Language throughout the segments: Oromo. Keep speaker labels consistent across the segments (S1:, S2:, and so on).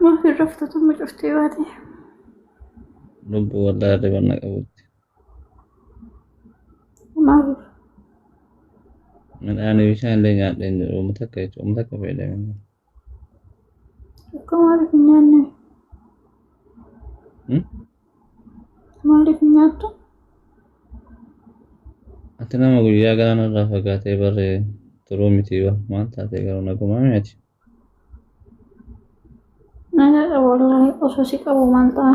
S1: Maaf hin raftu tumma cuftee baate.
S2: Lubbu waldaa dhibanna qabutti.
S1: Maaf
S2: Midhaan bishaan illee nyaadhee hin jiru. Uummata akka jechuun uummata akka fayyadamu.
S1: akka maaliif hin nyaanne? Maaliif hin nyaattu?
S2: Ati nama guyyaa galaana irraa fagaatee barree turuu miti wa maal taatee garuu nagumaa mi'ati.
S1: Nagaa qabu wallaahi osoo si qabu maal ta'a?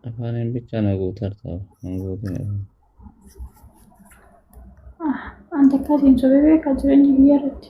S2: Afaaniin bichaa na guutarta hin guutin afaan.
S1: Ah, Anta akkasiin sobee beekaa jireenya biyya irratti.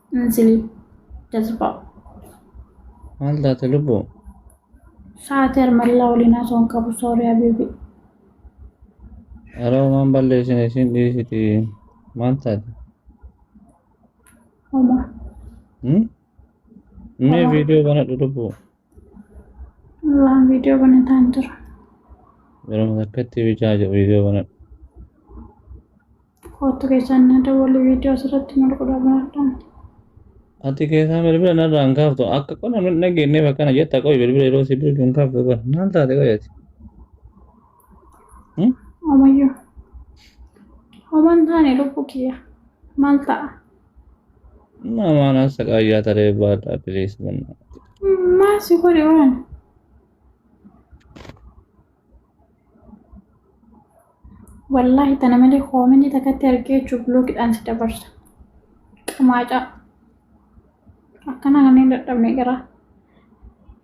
S1: Anzili jazbaa.
S2: Maal taate lubbuu?
S1: Sa'aatii armallaa waliin haasoo hin qabu soorii habiibi.
S2: Yeroo waan balleessin isin dhiisiti maal taate?
S1: Homa.
S2: Hmm? Mee viidiyoo banadhu lubbuu.
S1: Waan viidiyoo banataan jira.
S2: Yeroo takkatti bichaa jedhu viidiyoo banadha.
S1: Koottu keessaan na dawwali viidiyoo asirratti mul'udha banadhaan. Ati
S2: keessaa bilbila narraa hin kaaftu akka qonna hin dhageenyeef akkana jetta qoy bilbila yeroo si bilbilu hin kaaftu qoy maal taate qoy ati.
S1: Omayyuu. Homaan taane lubbuu kiyya. Maal ta'a?
S2: Maamaana saqaayyaa taree baadhaa piliis bannaa. Maal si
S1: godhe waan? Wallaahi tana malee koominii takkatti argee jechuun biloogidhaan si dabarsa. Qamaacaa. Akkana kanneen dadhabne garaa.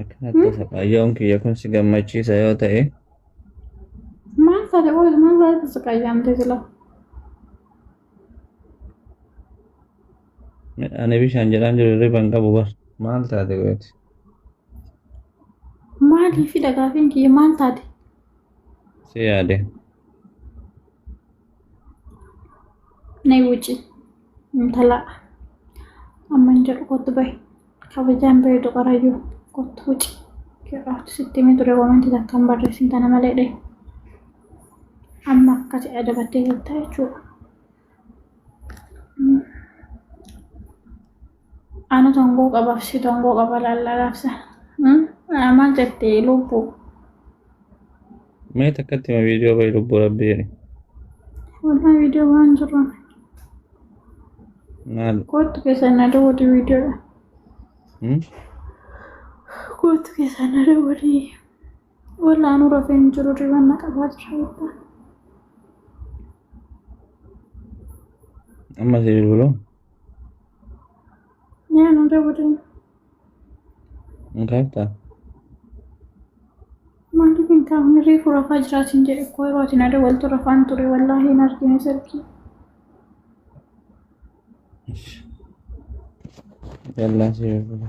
S2: Akkanatti saqayyoon kiyya kun si gammachiisa yoo ta'e
S1: Maal taate qoy maal taate saqayyaamte sila?
S2: midhaan bishaan jedhaan jiru hirriba hin qabu bar maal taate gooti.
S1: Maaliif dhagaafin kiyya maal taate?
S2: Si yaade.
S1: Nay wuci intala amman jedhu kottu bahi kabajaan bareedu qarayyuu kottu wuci jedhaatu sitti himee ture koomenti takka hin barreessin tana malee dhe amma akkati adabattee jirta jechuudha. Anu tongoo qabaaf si tongoo qaba laallaa gaafsa. Maal jette lubbuu?
S2: Mee takkatti ma viidiyoo bayi lubbuu rabbi jedhe.
S1: Walaa viidiyoo waan jiru. Maal?
S2: Kootu keessan na
S1: daawwatu viidiyoodha. Hmm? Kootu keessan na daawwatu. Walaa nu rafee hin jiru riban na qabaa jira beektaa.
S2: Amma si bilbilu
S1: Yaa nu dabadan
S2: hin kaaftaa?
S1: maaliif hin kaafne reefu rafaa jiraatiin jedhe koo yeroo ati na dawaltu rafaan ture wallaahi hin argine sarkii.
S2: Yallaa si bilbilu.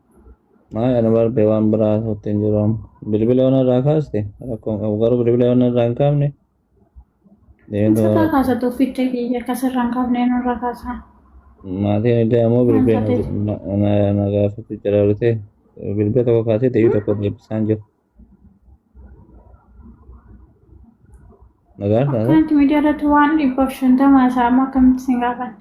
S2: Maal kana barbee waan biraa sotti hin jiru amma. Bilbila yoona irraa kaaste rakkoo hin qabu garuu bilbila yoona irraa hin kaafne.
S1: Sirraa kaasa tokkicha kiyya akka sirraa hin kaafne nurraa kaasa. Maatiin
S2: illee ammoo bilbila Maal taate? na gaafatu jira dhufte bilbila tokko kaasee deebii tokko deebisaan jiru. Nagaa taate Akkanatti miidiyaa irratti waan
S1: dhibbaaf shantama haasa'amu akkamitti isin gaafanne?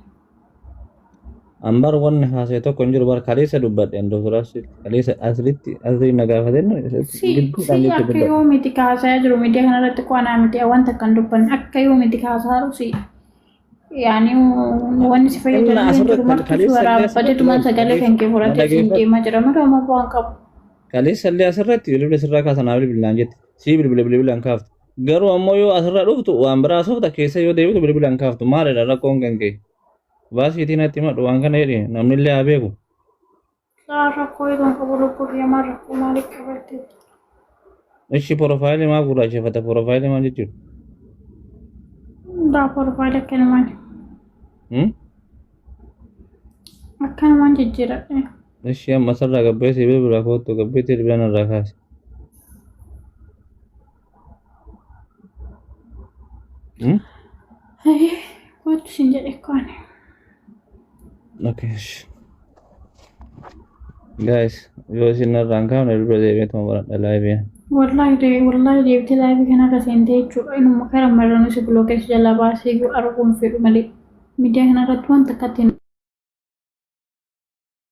S2: an bar wanni haasa'e tokko hin jiru bar kaleessa dubbadheen doktor asri kaleessa asritti asri na gaafateen Si gidduudhaan si jecha akka
S1: dubbadhe. yoo miti ka haasa'aa jiru miidiyaa kana irratti qo'anaa miti wanta kan dubbanne akka yoo miti ka haasa'aa jiru si yaani wanni si fayyadu Dhimma asirratti jiru marti kaleessa warraa illee asirratti bajadumaan waan sagalee kan kee horatee mana siin geeffa- deemaa jira malee amma bu'aan qabu. Kaleessa illee
S2: asirratti bilbila sirraa kaasan haa bilbilaan jette. Sii bilbila bilbilaan kaaftu. Garuu ammoo yoo asirraa dhuftu waan biraa asofta keessa yoo deebitu bilbilaan kaaftu maalidha rakkoon kan kee. Baasiitiin natti himadhu waan kana jedhi namni illee haa beeku. Saar
S1: rakkoo eegan qabu lubbuu kiyya maal rakkoo maaliif
S2: qabatte? Ishi porofaayilii maa gurraacheffata porofaayilii maa jechuudha?
S1: Daa porofaayilii akkanumaan Hmm? akkanumaan jijjiiradhe. Ishi amma sarara
S2: gabbee sibiila biraa koottu gabbee sibiila irraa kaase.
S1: Kootu siin jedhe kaane.
S2: Guys, yoo isin irraan kaafne dura deebi'eetuma baradha laayibiin. Wallahi dee
S1: wallahi deebitee laayibii kanarra seentee jechuudha. Inuma kara marranuu si bilookeessa jalaa baasee iyyuu arguun fedhu malee. Miidiyaa kanarratti wanta akkatti hin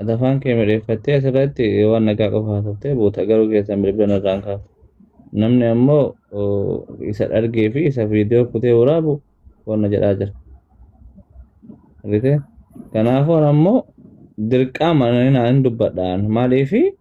S2: Ati afaan kee miidheeffattee asirratti waan nagaa qofa haasoftee buuta garuu keessan bilbila narraan kaafte. Namni ammoo isa dhargee fi isa viidiyoo kutee waraabu wanna jedhaa jira. Argitee? Kanaafuu ammoo dirqaa mananii naan dubbadhaan maaliifi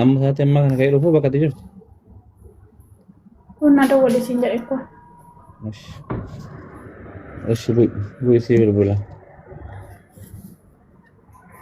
S2: Amma isaatti ammaa kana ka'ee dhufuu bakka itti jirtu. Kun na
S1: dawwale siin jedhe ko.
S2: Ish.
S1: Ish
S2: bu'isii
S1: bilbila.